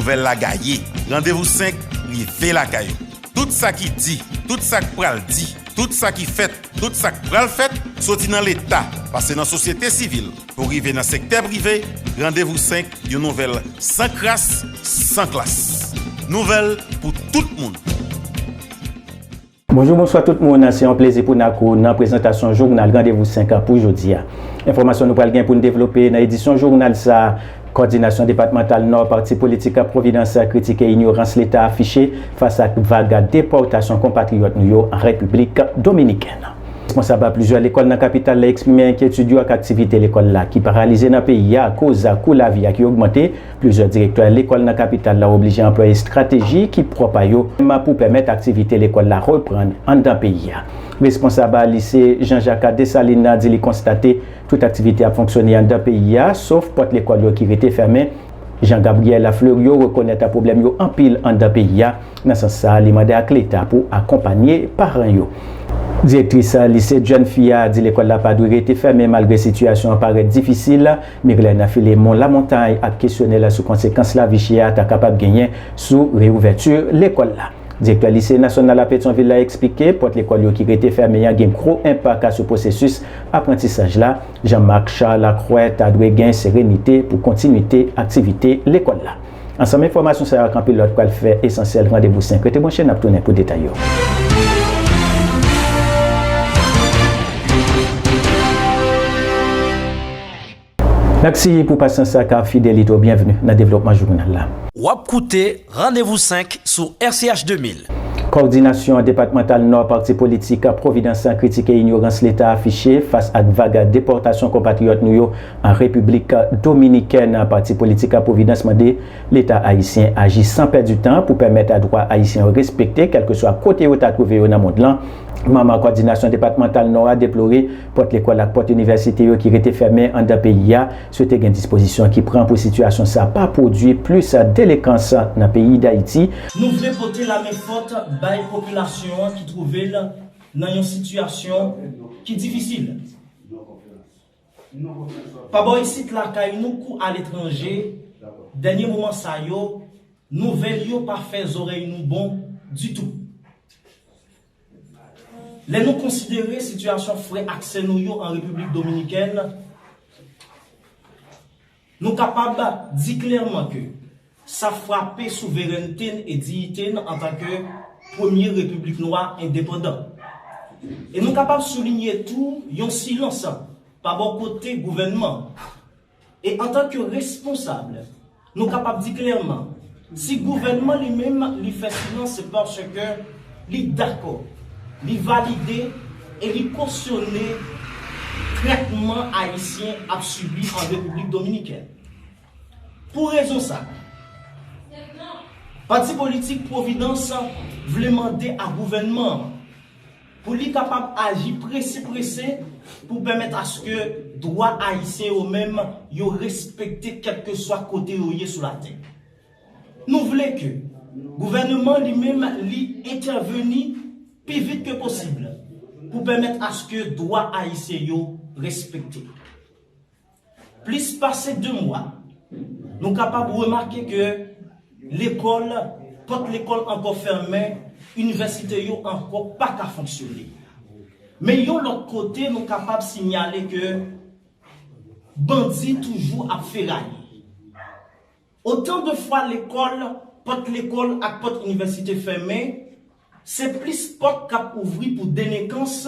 Nouvèl la gaye, randevou 5 rive lakay ou. Tout sa ki di, tout sa k pral di, tout sa ki fèt, tout sa k pral fèt, soti nan Leta, pase nan sosyete sivil, pou rive nan sektè prive, randevou 5 yon nouvèl san kras, san klas. Nouvèl pou tout moun. Bonjou bonswa tout moun se yon plezi pou n ak ou nan prezantasyon jounal randevou 5 an pou jodi a. Enfòmasyon nou pral gen pou n devlope nan edisyon jounal sa a, Kòdinasyon depatmantal Nò Pati politik Providence kritike inyorans leta afiche fas ak vag depòtasyon konpatriyòt nou yo an Repiblik Dominikèn. Responsab plizyè lekòl nan kapital la eksprime enkyetid yo ak aktivite lekòl la ki paralize nan peyi a akoz kou lavi a ki ogmante. Plizyè direktè lekòl nan kapital la oblije anplwaye estrateji ki pwòp a yo pou pèmèt aktivite lekòl la reprann anndan peyi a. Responsab lise Jean Jacques Dessalines nan di li konstate tout aktivite ap fonksyone anndan peyi a sof pòt lekòl yo ki rete fèmen. Jean Gabriel Fleuriot rekonèt pwoblèm yo anpil anndan peyi a. Nan sans sa li mande ak leta pou akonpanye paran yo. Direktris lise Jèn Fi a di lekòl la pa dwe rete fèmen malgre sitiyasyon an parèt difisil. Mirlène Philémon Lamontagne ak kesyone l sou konsekans lavi chè a ta kapab genyen sou reyouvèti lekòl la. Direktè Lise Nasyonal a Petyonvil la eksplike pòt lekòl yo ki rete fèmen an gen gwo enpak sou pwosesis aprantisaj la. Jean Marc Charles a kwè ta dwe gen serenite pou kontinwite aktivite lekòl la. Ansanm enfòmasyon sa yo ak anpil lòt pral fè Esansyèl randevou 5. Rete branche, n ap tounen pou detay yo. Mèsi pou pasyans sa ak fidelite w. Byenvni nan devlopman jounal la. W ap koute randevou 5 sou RCH 2000. Kòdinasyon depatmantal Nò Pati Politik Pwovidans kritike inyorans Leta afiche fas ak vag depòtasyon konpatriyòt nou yo Repiblik Dominikèn, Pati politik Pwovidans mande Leta ayisyen aji san pèdi tan pou pèmèt dwa Ayisyen yo respekte kèlkeswa kote yo ta twouve yo nan mond lan. Manm Kòdinasyon Depatmantal Nò a deplore pòt lekòl ak pòt inivèsite yo ki rete fèmen anndan peyi a, swete gen dispozisyon ki pran pou sitiyasyon sa a pa pwodui plis delekans nan peyi Dayiti. Nou vle pote lamen fòt bay popilasyon an ki twouve l nan yon sitiyasyon ki difisil. Pa bò isit lakay nou kou aletranje, dènye moman sa yo, nouvèl yo pa fè zorèy nou bon ditou. Lè nou konsidere sitiyasyon frè ak sè nou yo an Repiblik Dominikèn, Nou kapab di klèman ke sa frape souverènte n e diyite n antanke premye repiblik nwa endepandan. E nou kapab soulinye tou yon silans pa bò kote gouvènman. E antanke responsab, nou kapab di klèman, Si gouvènman li menm li fè silans se paske li dakò, li valide e li kosyone trètman ayisyen ap sibi an Repiblik Dominikèn. Pou rezon sa, pati politik Pwovidans vle mande a gouvènman an, Pou li kapab aji prese prese pou pèmèt aske dwa Ayisyen yo menm yo respekte kèlkeswa kote yo ye sou latè. Nou vle ke Gouvèneman li menm li entèveni pi vit ke posib pou pèmèt aske dwa Ayisyen yo respekte. Plis pase 2 mwa, nou kapab remake ke lekòl, pòt lekòl ankò fèmen, inivèsite yo ankò pa ka fonksyone. Men yon lòt kote nou kapab sinyale ke bandi toujou ap feraye. Otan de fwa lekòl, pòt lekòl ak pòt inivèsite fèmen, se plis pòt k ap ouvri pou delenkans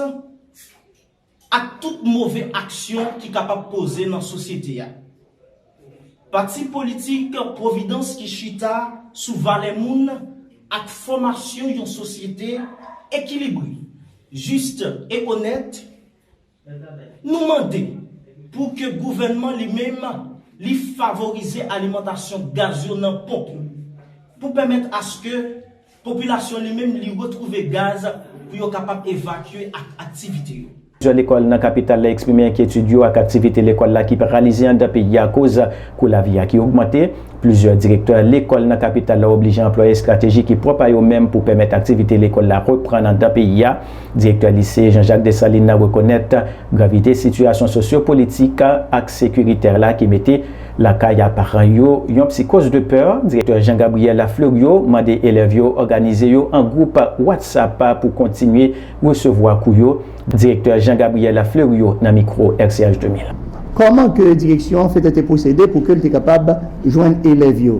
ak tout move aksyon ki kapab poze nan sosyete a. Pati politik Pwovidans ki chita sou valè moun ak fòmasyon yon sosyete ekilibre, jis e onèt, nou mande pou ke gouvènman li menm li favorize alimantasyon gaz yo nan ponp yo pou pèmèt aske Popilasyon li menm li retwouve gaz pou yo kapab evakye ak aktivite yo. Plizyè lekòl nan kapital la eksprime enkyetid yo ak aktivite lekòl la ki paralize andan peyi a akoz kou lavi a ki ogmante. Plizyè direktè lekòl nan kapital la oblije anplwaye estrateji ki pwòp a yo menm pou pèmèt aktivite lekòl la reprann andan peyi a. Direktè lise Jean Jacques Dessalines nan rekonèt. Gravite sitiyasyon sosyo politik ak sekiritè la ki mete lakay a paran yo yon psikoz de pè, Direktè Jean Gabriel Fleuriot mande elèv yo òganize yo an gwoup WhatsApp pou kontinye resevwa kou yo, Direktè Jean Gabriel Fleuriot nan mikwo RCH 2000. Kòman ke direksyon an fè tèt e pwosede pou ke l te kapab jwenn elèv yo?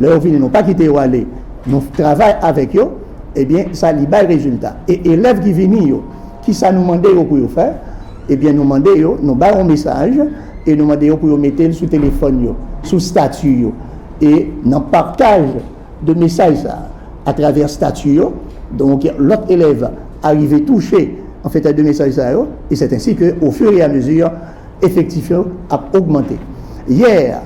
Lè yo vini nou pa kite yo ale, nou travay avèk yo, ebyen sa li bay rezilta. E elèv ki vini yo, kisa nou mande yo pou yo fè? Ebyen nou mande yo, nou bay yon mesaj e nou mande yo pou yo mete l sou telefòn yo, sou stati yo. E nan pataj de mesaj sa a atravè stati yo, donk lòt elèv arive touche an fèt de mesaj sa yo e sèt ensi ke o fur et à mesure efektif yo ap ogmante. Yè,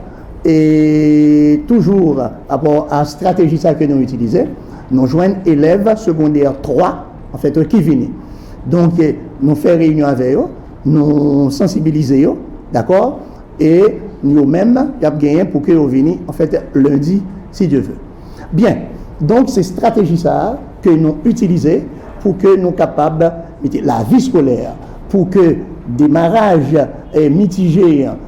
E toujou rapò a strateji sa ke nou itilize, nou jwenn elèv segondè 3 anfèt ki vini. Donk nou fè reyinyon avè yo, nou sansibilize yo, dakò, e yo menm y ap genyen pou ke yo vini anfèt lendi si Dye ve. Byen, donk se strateji sa a ke nou itilize pou ke nou kapab mete lavi skolè pou ke demaraj mitije an.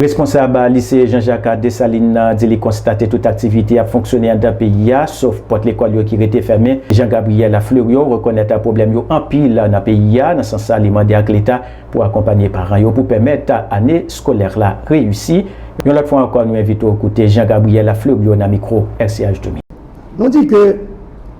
Responsab Lise Jean Jacques Dessalines nan di li konstate tout aktivite ap fonksyone anndan peyi a, sof pòt lekòl yo ki rete fèmen. Jean Gabriel Fleuriot rekonèt pwoblèm yo anpil nan peyi a. Nan sans sa li mande ak leta pou akonpanye paran yo pou pèmèt ane skolè la reyisi. Yon lòt fwa ankò nou envite w koute Jean Gabriel Fleuriot nan mikwo RCH Dominique. Nou di ke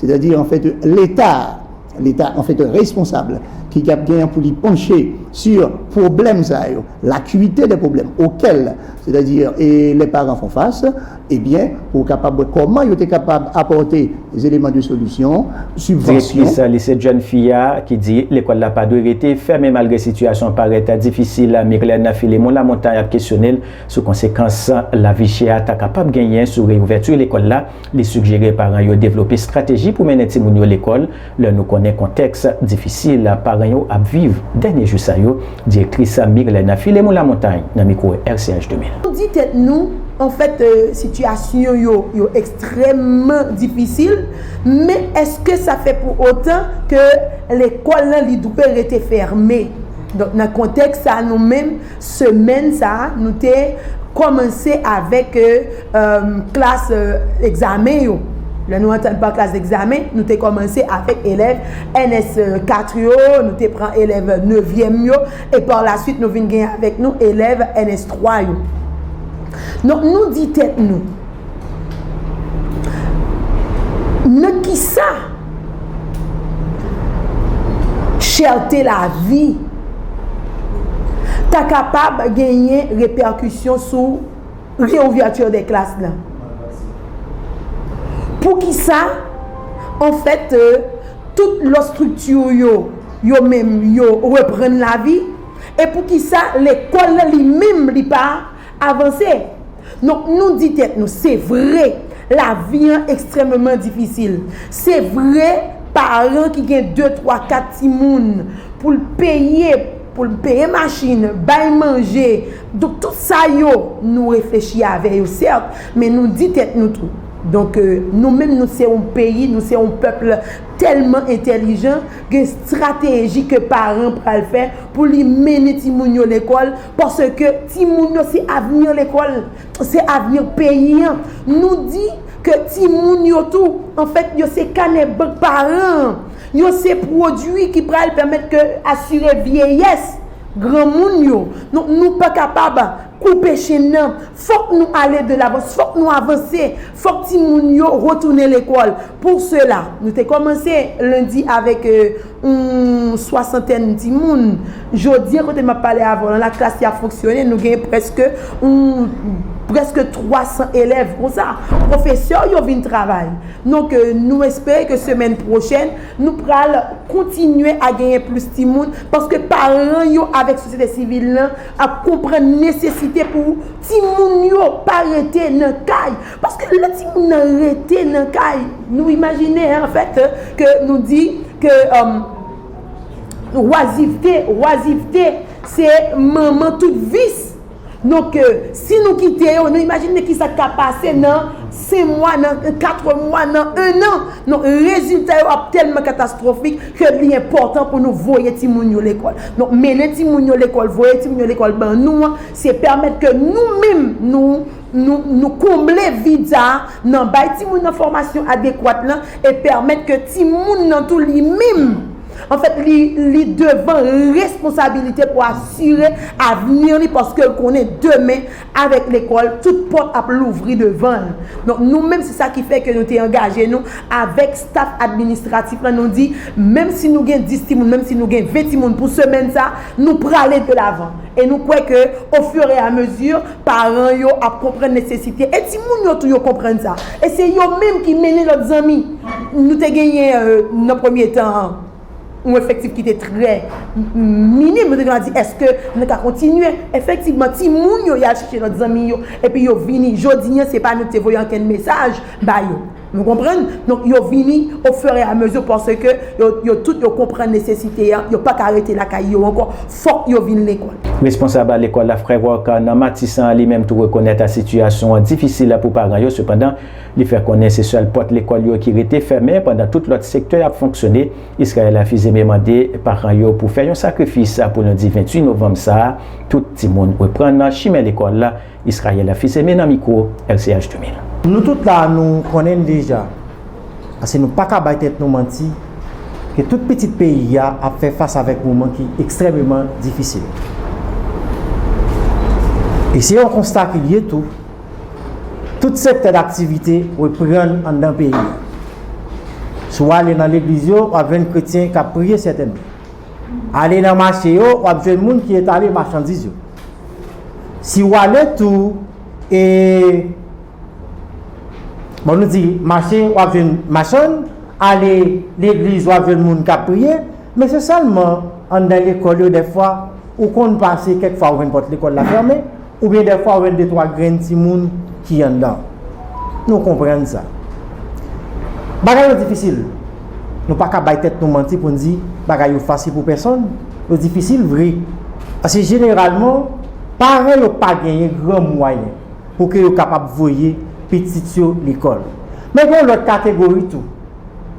Sètadi anfèt leta, leta anfèt responsab ki gap gen pou li panche si pwoblèm sa yo, lakuite de pwoblèm okèl sètadi e lè paran fon fas ebyen pou kapab wè kòman yo te kapab apòte zeleman de solisyon, sibvansyon. Direktris lise Jèn Fi a ki di lekòl la pa dwe rete fèmen malgre sitiyasyon an parèt difisil Myrlène Philémon Lamontagne ap kesyone l sou konsekans lavi chè a ta kapab genyen sou reyouvèti lekòl la. Li sigjere paran yo devlope estrateji pou mennen timoun yo lekòl lè nou konnen kontèks difisil paran yo ap viv dènye jou sa yo, direktris Mirlène Philemon Lamontagne nan mikwo RCH 2000. Nou di tèt nou, anfèt, sitiyasyon yo yo ekstrèmman difisil, men èske sa fè pou otan ke lekòl lan li dwe rete fèmen? Donk nan kontèks sa nou menm semèn sa nou te kòmanse avèk. klas egzamen yo. Lè nou antre pa klas egzamen, nou te kòmanse avèk elèv NS 4 yo, nou te pran elèv nevyèm yo, e pa la suit nou vin gen avèk nou elèv NS 3 yo. Donk nou di tèt nou, nan ki sa chète lavi ta kapab genyen repèkisyon sou Reouverture des classes nan. Pou ki sa, an fèt, euh, tout lòt strikti yo, yo menm, yo reprann lavi, e pou ki sa lekòl lan li menm li pa avanse. Donk nou di tèt nou, se vre, lavi an ekstrèmeman difisil. Se vre, paran ki gen de, twa, kat timoun, pou l peye, pou l peye machin, bay manje, Donk tout sa yo nou reflechi avè yo sèt, men nou di tèt nou tou. Donk nou menm nou se yon peyi, nou se yon pèpl tèlman entèlijan, gen strateji ke paran pral fè pou li mennen timoun yo lekòl, paske timoun yo se avni lekòl, se avni peyi an. Nou di ke timoun yo tou, anfèt yo se kanè bank paran an, yo se pwodui ki pral pèmèt ke asire vyeyès. Granmoun yo, nou, nou pa kapab koupe chenn nan, fòk nou ale de lavans, fòk nou avanse, fòk timoun yo retounen lekòl. Pou sela, nou te kòmanse lendi avèk yon swasantèn timoun. Jodi an, kote m ap pale avè w lan, laklas yo ap fonksyone, nou gen prèske yon, prèske 300 elèv konsa. Pwofesè yo vin travay. Donk, nou espere ke semèn pwochèn, Nou pral kontinye a genyen plis timoun paske paran yo avèk sosyete sivil lan ap konprann nesesite pou timoun yo pa rete nan kay. Paske lè timoun nan rete nan kay, nou imajine an fèt ke nou di ke wazivte, oisivte, se manman tout vis. Non ke si nou kite yo, nou imajine ki sa k ka pase nan 5 mwa, nan 4 mwa, nan 1 an. Non, rezilta yo ap tèlman katastwofik ke li enpòtan pou nou voye timoun yo lekòl. Non, mennen timoun yo lekòl, voye timoun yo lekòl ban nou an, se pèmèt ke nou menm nou, nou, nou konble vid sa a nan bay timoun nan fòmasyon adekwat lan e pèmèt ke timoun nan tou li menm, Anfèt, li devan responsabilite pou asire avni li paske l konnen demen avèk lekòl tout pòt ap louvri devan l. Donk nou menm se sa ki fè ke nou te angaje nou avèk staf administratif la nou di menm si nou gen 10 timoun menm si nou gen 20 timoun pou semèn sa nou prale de lavan e nou kwè ke o fur et à mesure Paran yo ap konprann nesesite e timoun yo tou yo konprann sa. E se yo menm ki mennen lòt zanmi. Nou te genyen nan premye tan an yon efektif ki te trè minim. Nou te genwa di èske nou ka kontinye. Efektivman timoun yo y al chèche lòt zanmi yo epi yo vini. Jodi an se pa nou ki te voye ankenn mesaj ba yo. Nou konprann? Donk, yo vini o fur et à mesure paske yo, yo tout yo konprann nesesite an, yo pa ka rete lakay yo ankò, fòk yo vin lekòl. Responsab lekòl la, frè Rock, nan Matisan, li menm tou rekonèt a sitiyasyon an difisil pou paran yo, sepandan, li fè konnen se sèl pòt lekòl yo ki rete fèmen pandan tout lòt sektè ap fonksyone. Israël Afizeme mande paran yo pou fè yon sakrifis pou lendi 28 novanm sa a, tout timoun reprann chimen lekòl. Israël a fils aimé nan mikwo LCH 2000. Nou tout la nou konnen l deja, paske nou paka bay tèt nou manti, ke tout pitit peyi a ap fè fas avèk moman ki ekstrèmeman difisil. E se yon konsta ki lye tou, tout sektè daktivite reprann anndan peyi a. Si w ale nan legliz yo, w ap jwenn kretyen k ap priye sètènman. Ale nan mache yo, w ap jwenn moun ki etale machandiz yo. Si ou ale tou e bon nou di mache wap jwenn machann, ale legliz wap jwenn moun kap priye, men se sèlman anndan lekòl yo dèfwa ou konn pase kèk fwa ou jwenn pòt lekòl la fèmen oubyen dèfwa ou jwenn de twa grenn timoun ki anndan. Nou konprann sa. Bagay yo difisil. Nou pa ka bay tèt nou manti pou n di bagay yo fasil pou pèsonn, yo difisil vre. Paske jeneralman, paran yo pa genyen gran mwayen pou ke yo kapab voye pitit yo lekòl. Men gen yon lòt kategori tou,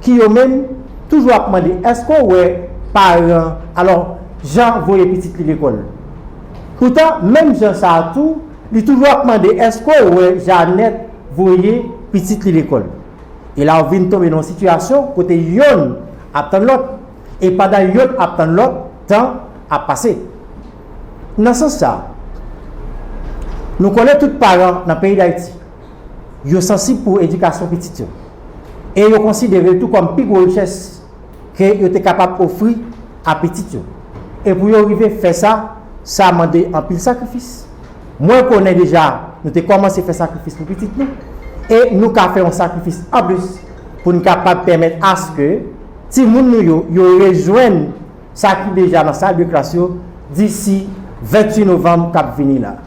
ki yo menm toujou ap mande, èske w wè paran, alò, jan voye pitit li lekòl? Poutan, menm jan sa a tou, li toujou ap mande, èske w wè Janèt voye pitit li lekòl? E la ou vin tonbe nan yon sitiyasyon kote yonn ap tann lòt, e pandan yonn ap tann lòt, tan ap pase. Nan sans sa, nou konnen tout paran nan peyi Dayiti, yo sansib pou edikasyon pitit yo, e yo konsidere l tou kòm pi gwo richès ke yo te kapab ofri a pitit yo. E pou yo rive fè sa, sa mande anpil sakrifis. Mwen konnen deja nou te kòmanse fè sakrifis pou pitit nou, e nou ka fè yon sakrifis anplis pou n kapab pèmèt aske timoun nou yo yo rejwenn sa ki deja nan sal de klas yo disi 28 novanm k ap vini la.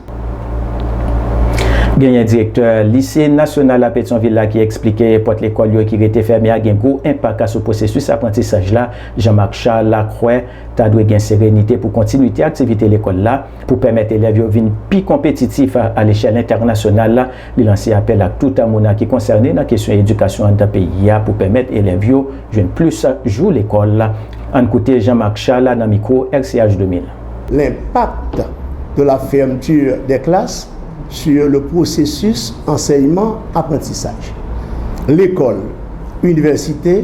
Genyen direktè Lise Nasyonal la Petyonvil la ki eksplike pòt lekòl yo ki rete fèmen a gen gwo enpak sou pwosesis aprantisaj la. Jean Marc Charles la kwè ta dwe gen serenite pou kontinwite aktivite lekòl la. Pou pèmèt elèv yo vin pi konpetitif alechèl entènasyonal, li lanse apèl ak tout moun ki konsène nan kesyon edikasyon anndan peyi a pou pèmèt elèv yo jwenn plis jou lekòl. Ann koute Jean Marc Charles nan mikwo RCH 2000. L'impact de la fermeture des classes sur le processus enseignement-apprentissage. Lekòl, inivèsite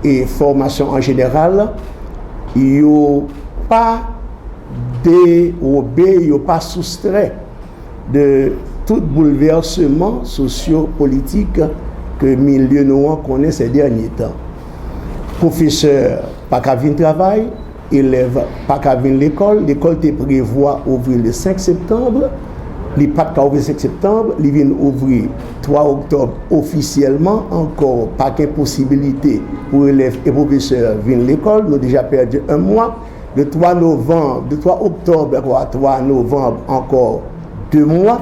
e fòmasyon an jeneral yo pa. Derobe yo pa soustrè de tout boulvèseman sosyo politik ke milye nou an konnen sè dènye tan. Pwofesè pa ka vin travay, elèv pa ka vin lekòl, lekòl te prevwa ouvri le 5 septanb, li pat ka ouvri 5 septanb, li vin ouvri 3 oktòb ofisyèlman, ankò pa gen posibilite pou elèv e pwofesè vin lekòl, nou deja pèdi 1 mwa. de 3 novanb, de 3 oktòb ankò a 3 novanb ankò 2 mwa,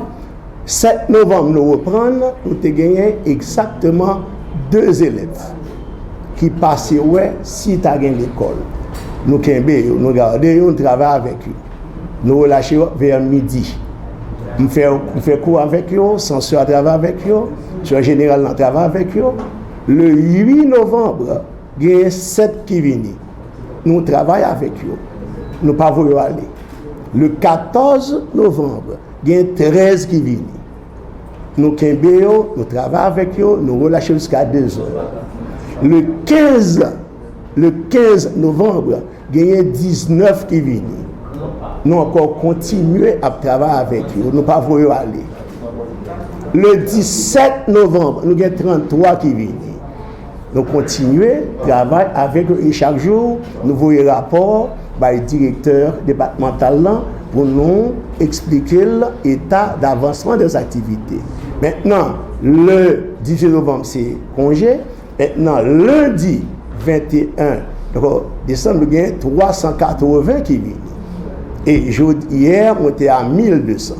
7 novanm nou reprann nou te genyen egzakteman 2 elèv ki pase wè si ta gen lekòl. Nou kenbe yo, nou gade yo, nou travay avèk yo. Nou relache yo vè midi. M fè, m fè kou avèk yo, Sansò a travay avèk yo, Direksyon Jeneral nan travay avèk yo. Le 8 novanb, genyen 7 ki vini. nou travay avèk yo, nou pa voye yo ale. Le 14 novanb, gen 13 ki vini. Nou kenbe yo, nou travay avèk yo, nou relache yo jiska 2 zè. Le 15, le 15 novanb, genyen 19 ki vini. Nou ankò kontinye ap travay avèk yo, nou pa voye yo ale. Le 17 novanb, nou gen 33 ki vini. Nou kontinye travay avèk yo e chak jou nou voye rapò bay direktè depatmantal lan pou nou eksplike l eta davansman de aktivite. Mentnan le 18 novanm se konje, mentnan lendi 21 desanm nou gen 380 ki vini e jodi yè mwen te a 1200.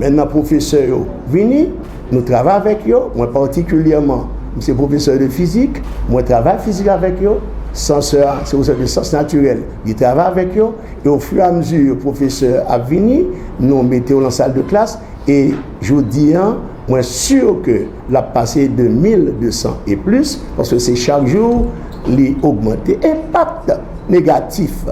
Mentnan pwofesè yo vini. Nou travay avèk yo, mwen patikilyèman, m se pwofesè de fizik, mwen travay fizik avèk yo, sansè a se pwofesè de syans natirèl, li travay avèk yo, e ofiramzi pwofesè ap vini, nou mete yo lan sal de klas, e jodi a, mwen si ke l ap pase de 1200 e plis, paske se chak jou li ogmante. Enpak negatif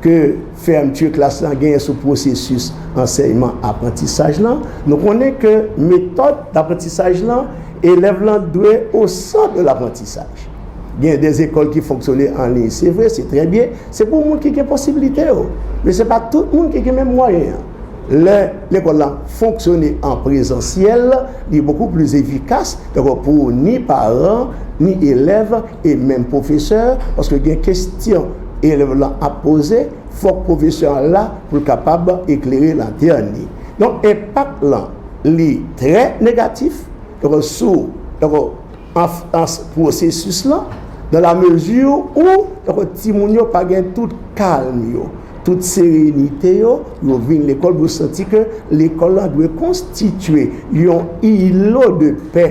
ke. Fermeture klas lan genyen sou pwosesis ansèyman aprantisaj lan. Nou konnen ke metòd daprantisaj lan, elèv lan dwe o sant de laprantisaj. Genyen de zekòl ki fonksyone an liy, se vre, se trè byen, se pou moun ki gen posibilite yo. Men se pa tout moun ki gen menm mwayen an. Lè lekòl lan fonksyone an prezansyèl, li bokou pli efikas, dako pou ni paran, ni elèv e menm pwofesè paske gen kestyon elèv lan ap poze fòk pwofesè an la pou l kapab eklere lantèn li donk enpak lan li trè negatif donk sou donk anfans pwosesis lan dan la mezi ou donk timoun yo pa gen tout kalm yo tout serenite yo pou yo vin lekòl pou yo santi ke lekòl lan dwe konstitye yon ilo de pè.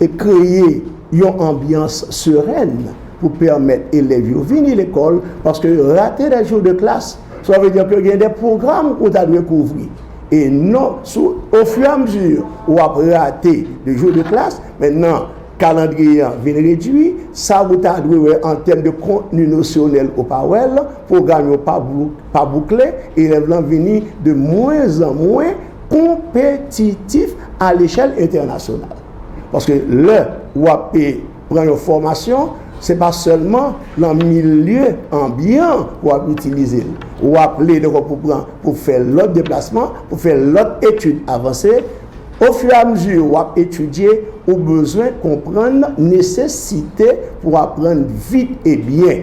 e kreye yon anbyans serèn pou pèmèt elèv yo vini lekòl paske rate de jou de klas sa vle di ke gen de pwogram ou ta dwe kouvri e non sou ofiramzi ou ap rate de jou de klas men nan kalandriye an vin redui sa ou ta dwe wè an tèm de kontni nosyonèl ou pa wèl pwogram yo pa boukle elèv lan vini de mwen an mwen konpetitif a lechèl entènasyonal. Paske lè ou ape pran yon fòmasyon, se pa sèlman nan milye anbyan ou ap itilize l. Ou aple dekò pou pran pou fè lòt deplasman, pou fè lòt etid avanse. Ofiramezi ou ap etidye, ou bezwen konprann nesesite pou aprann vit e byen.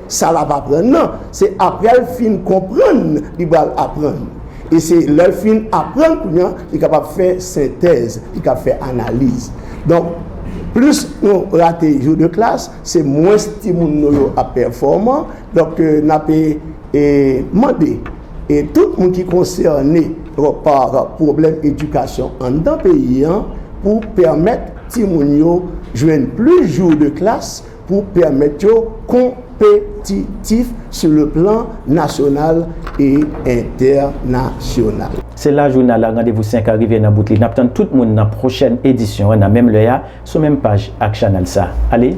Sa l ap aprann nan, se apre l fin konprann li pral aprann. E se lè l fin aprann kounye an li kapab fè sentèz, li kab fè analiz. Donk, plis nou rate jou de klas, se mwens timoun nou yo ap pèfòman. Donk, n ape mande tout moun ki konsène pa pwoblèm edikasyon anndan peyi an pou pèmèt timoun yo jwenn plis jou de klas, pou pèmèt yo konpetitif sou le plan nasyonal e entènasyonal. Se la jounal a randevou 5 a rive nan bout li. N ap tann tout moun nan pwochèn edisyon an nan menm lè a sou menm paj ak chanèl sa. Ale,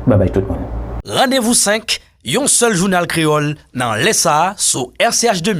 babay tout moun. Randevou 5, yon sèl jounal kreyòl nan lè sa sou RCH 2000.